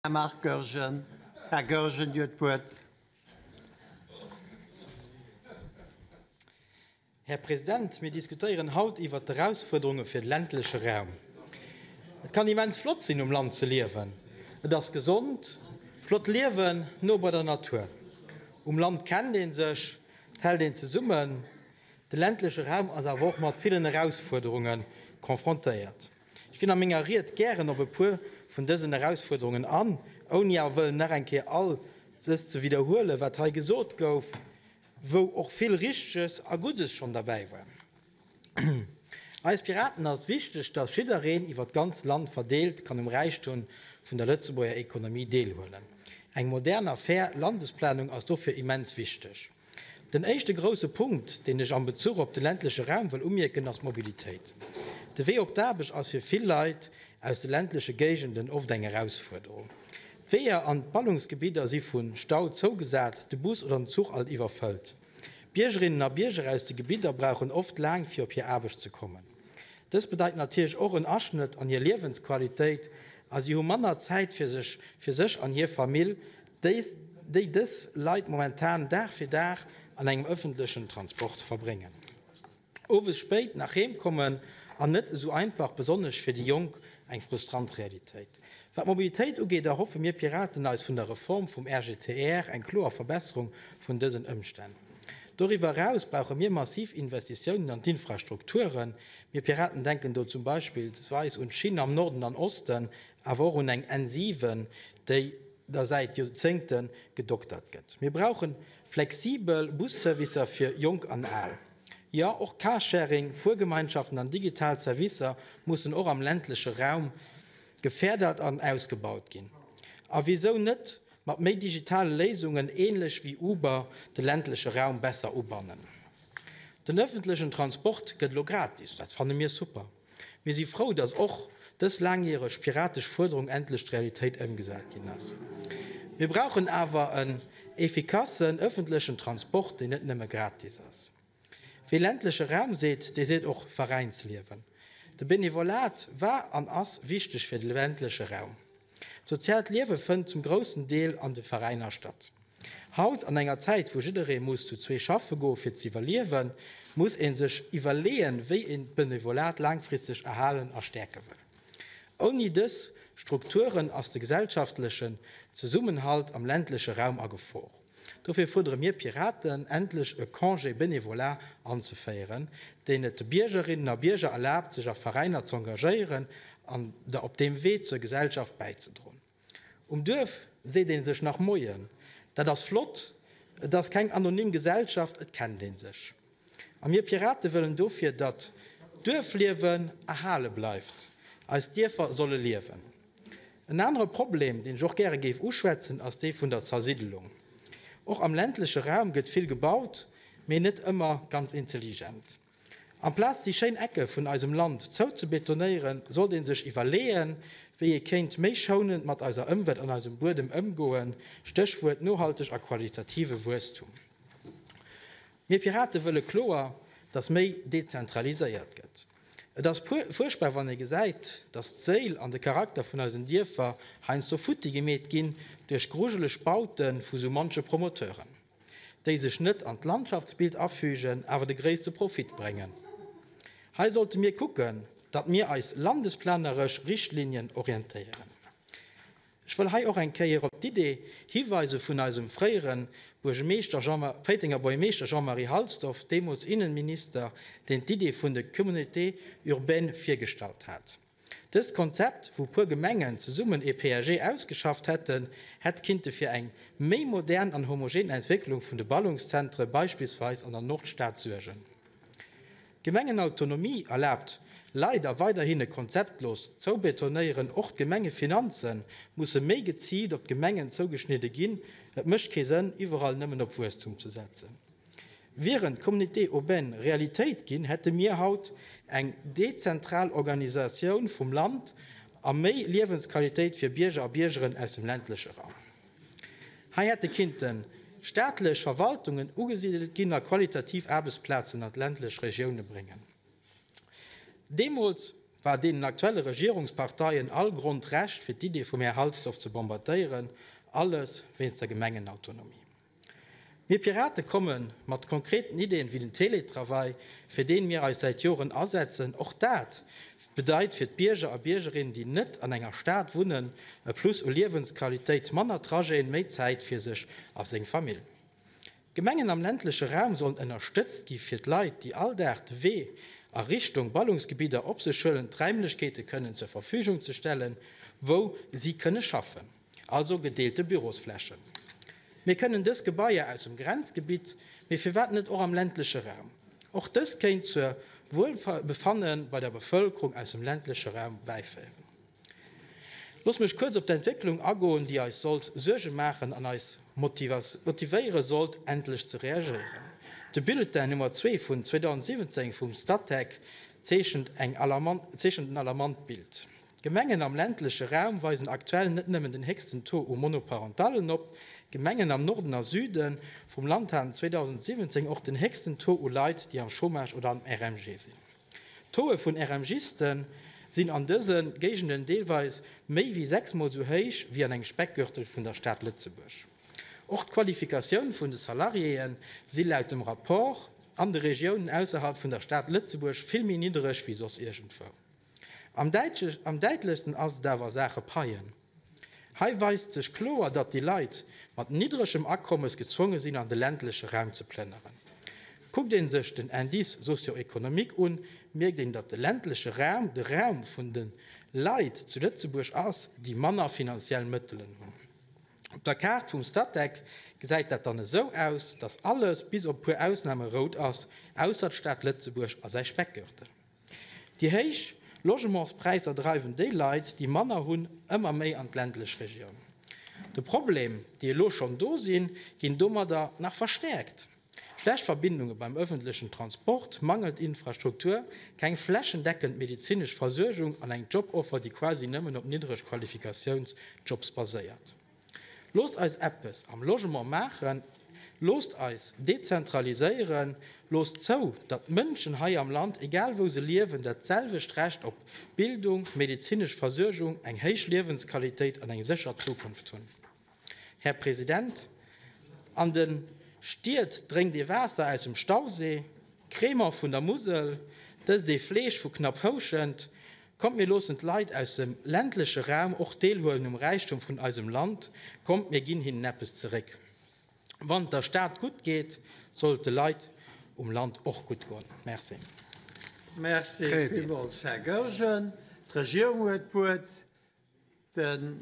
Här Marc Goergen. Här Goergen, Dir huet d'Wuert. Här President, mir diskutéieren haut iwwert d'Erausfuerderunge fir de ländleche Raum. Et kann immens flott sinn, um Land ze liewen. Et ass gesond, flott liewen, no bei der Natur. Um Land kennt ee sech, et hält een zesummen. De ländleche Raum ass awer och mat villen Erausfuerderunge confrontéiert. Ech ginn a menger Ried gären op e puer vun dësen Erausfuerderungen an, ouni awer wëllen nach eng Kéier all ses ze widderhuelen, wat hei gesot gouf, wou och vill Richteges a Guddes schonn derbäi war. Eis Piraten ass wichteg, dass jiddereen iwwert d'ganz Land verdeelt kann um Räichtum vun der Lëtzebuerger Ekonomie deelhuelen. Eng modern a fair Landesplanung ass dofir immens wichteg. Den éischte grousse Punkt, deen ech am Bezuch op de ländleche Raum wëll umierken, ass d'Mobilitéit. De Wee op d'Aarbecht ass fir vill Leit aus de ländleche Géigenden oft eng Erausfuerderung. D'Weeër an d'Ballungsgebidder si vu Stau zougesat, de Bus oder den Zuch alt iwwerfëllt. Biergerinnen a Bierger aus de Gebidder brauchen oft laang, fir op hir Aarbecht ze kommen. Dëst bedeit natierlech och en Aschnëtt an hir Liewensqualitéit a si hu manner Zäit fir sech, fir sech an hir Famill. déi dës Leit momentan Dag fir Dag an engem ëffentlechen Transport verbréngen, owes spéit nach heem kommen an net esou einfach, besonnesch fir déi Jonk, eng frustrant Realitéit. Wat d'Mobilitéit ugeet, erhoffe mir Piraten eis vun der Reform vum RGTR eng kloer Verbesserung vun dësen Ëmstänn. Doriwwer eraus brauche mir massiv Investitiounen an d'Infrastrukturen. Mir Piraten denken do zum Beispillsweis un d'Schinn am Norden an Osten, awer och un eng N7, déi, der säit Joerzéngte gedoktert gëtt. Mir brauche flexibel Busservicer fir Jonk an Al. Jo, och Carsharing, Fuergemeinschaften an digital Servicer mussen och am ländleche Raum geférdert an ausgebaut ginn. A wisou net mat méi digitale Léisungen, ähnlech wéi Uber, de ländleche Raum besser ubannen? Den öffentlechen Transport gëtt elo gratis, dat fanne mir super. Mir si frou, dass och dës laangjäreg piratesch Fuerderung endlech d'Realitéit ëmgesat ginn ass. Mir brauchen awer en effikassen ëffentlechen Transport, deen net nëmme gratis ass. Wie ländleche Raum seet, dee seet och Veräinsliewen. De Benevolat war an ass wichteg fir de ländleche Raum. D'soziaalt Liewe fënnt zum groussen Deel an de Veräiner statt. Haut, an enger Zäit wou jidderee muss zu zwee schaffe goe fir z'iwwerliewen, muss ee sech iwwerleeën, wéi een d'Benevolat laangfristeg erhalen a stäerke wëll. Ouni dës Strukturen ass de gesellschaftlechen Zesummenhalt am ländleche Raum a Gefor. Dofir fuerdere mir Piraten, endlech e Congé bénévolat anzeféieren, deen et de Biergerinnen a Bierger erlaabt, sech a Veräiner z'engagéieren an der op deem Wee zur Gesellschaft bäizedroen. Um Duerf seet ee sech nach Moien. Dat ass flott. Et ass keng anonym Gesellschaft, et kennt ee sech. A mir Pirate wëllen dofir, datt d'Duerfliewen erhale bleift. Eis Dierfer solle liewen. En anere Problem, deen ech och gäre géif uschwätzen, ass dee vun der Zersiddelung. Och am ländleche Raum gëtt vill gebaut, mee net ëmmer ganz intelligent. Amplaz déi schéin Ecke vun eisem Land zou ze betonéieren, sollt ee sech iwwerleeën, wéi ee kéint méi schounend mat eiser Ëmwelt an eisem Buedem ëmgoen, Stéchwuert nohalteg a qualitative Wuesstum. Mir Pirate wëlle kloer, datt méi dezentraliséiert gëtt. Et ass fuerchtbar wann ee gesäit, datt d'Séil an de Charakter vun eisen Dierfer heiansdo futti gemeet ginn duerch grujeleg Baute vu sou manche Promoteuren, déi sech net an d'Landschaftsbild afügen, awer de gréisste Profit bréngen. Hei sollte mir kucken, datt mir eis landesplaneresch Richtlinien orientéieren. Ech wëll hei och eng Kéier op d'Idee hiweise vun eisem fréiere Buergemeeschter, Péitenger Bourgemeeschter Jean-Marie Halsdorf, deemools Innenminister, deen d'Idee vun de Communautés urbaines virgestallt hat. Dëst Konzept, wou puer Gemengen zesummen ee PAG ausgeschafft hätten, hätt kinnte fir eng méi modern an homogen Entwécklung vun de Ballungszentre beispillsweis an der Nordstad suergen. D'Gemengenautonomie erlaabt leider weiderhin e konzeptlost Zoubetonéieren. Och d'Gemengefinanze musse méi geziilt op d'Gemengen zougeschnidde ginn. Et mécht kee Sënn, iwwerall nëmmen op Wuesstum ze setzen. Wieren d'Communautés urbaines Realitéit ginn, hätte mir haut eng dezentral Organisatioun vum Land a méi Liewensqualitéit fir Bierger a Biergeren aus dem ländleche Raum. Hei hätte kinnten staatlech Verwaltungen ugesidelt ginn a qualitativ Aarbechtsplazen an d'ländlech Regioune bréngen. Deemools war deenen aktuelle Regierungsparteien all Grond Recht fir d'Idee vum Här Halsdorf ze bombardéieren, alles wéinst der Gemengenautonomie. Mir Pirate komme mat konkreten Ideen, wéi den Teletravail, fir deen mir eis säit Joren asetzen. Och dat bedeit fir d'Bierger a Biergerinnen, déi net an enger Stad wunnen, e Plus u Liewensqualitéit, manner Trajeten, méi Zäit fir sech a seng Famill. D'Gemengen am ländleche Raum sollen ënnerstëtzt gi fir d'Leit, déi all Dag de Wee a Richtung Ballungsgebidder op sech huelen, d'Räimlechkeete kënnen zur Verfügung ze stellen, wou si kënne schaffen. Also gedeelte Bürosflächen. Mir kënnen dës Gebaier aus dem Grenzgebitt, mee firwat net och am ländleche Raum? Och dëst kéint zur Wuelbefanne bei der Bevëlkerung aus dem ländleche Raum bäiféieren. Looss mech kuerz op d'Entwécklung agoen, déi eis sollt Suerge maachen an eis motivéiere sollt, endlech ze reagéieren. De Bulletin Nummer zwee vun 2017 vum Statec zeechent en alarmant Bild. D'Gemengen am ländleche Raum weisen aktuell net nëmmen den héchsten Taux u Monoparentallen op, d'Gemengen am Norden a Süde vum Land haten 2017 och den héchsten Taux u Leit, déi am Chômage oder am RMG sinn. D'Tauxë vun RMGiste sinn an dëse Géigenden deelweis méi wéi sechsmol esou héich wéi an engem Speckgürtel vun der Stad Lëtzebuerg. Och d'Qualifikatioun vun de Salariéë si laut dem Rapport an de Regiounen ausserhalb vun der Stad Lëtzebuerg vill méi niddereg wéi soss iergendwou. Am däitlechsten ass et awer a Saache Paien. Hei weist sech kloer, datt déi Leit mat niddregem Akommes gezwonge sinn an de ländleche Raum ze plënneren. Kuckt ee sech den Indice socio-économique un, mierkt een, datt de ländleche Raum de Raum vun de Leit zu Lëtzebuerg ass, déi manner finanziell Mëttelen hunn. Op der Kaart vum Statec gesäit dat dann esou aus, datt alles, bis op e puer Ausname, rout ass, ausser d'Stad Lëtzebuerg a säi Speckgürtel. Déi héich Logementspräisser dreiwen déi Leit, déi manner hunn, ëmmer méi an d'ländlech Regioun. De Problem, déi elo schonn do sinn, ginn domadder nach verstäerkt, schlecht Verbindunge beim ëffentlechen Transport, mangelnd Infrastruktur, keng flächendeckend medezinesch Versuergung an eng Joboffer, déi quasi nëmmen op niddreg Qualifikatiounsjobs baséiert. Loosst eis eppes am Logement maachen, loosst eis dezentraliséieren, loosst zou, datt d'Mënschen hei am Land, egal wou se liewen, dat selwecht Recht op Bildung, medezinesch Versuergung, eng héich Liewensqualitéit an eng sécher Zukunft hunn. Här President, an de Stied drénkt ee Waasser aus dem Stausee, Krämer vun der Musel, dëst ee Fleesch vu Knapphouschent, Kommt mir loossen d'Leit aus dem ländleche Raum och deelhuelen um Räichtum vun eisem Land, kommt mir ginn hinnen eppes zeréck. Wann et der Stad gutt geet, soll et de Leit um Land och gutt goen. Merci. Merci villmools, Här Goergen. D'Regierung huet d'Wuert.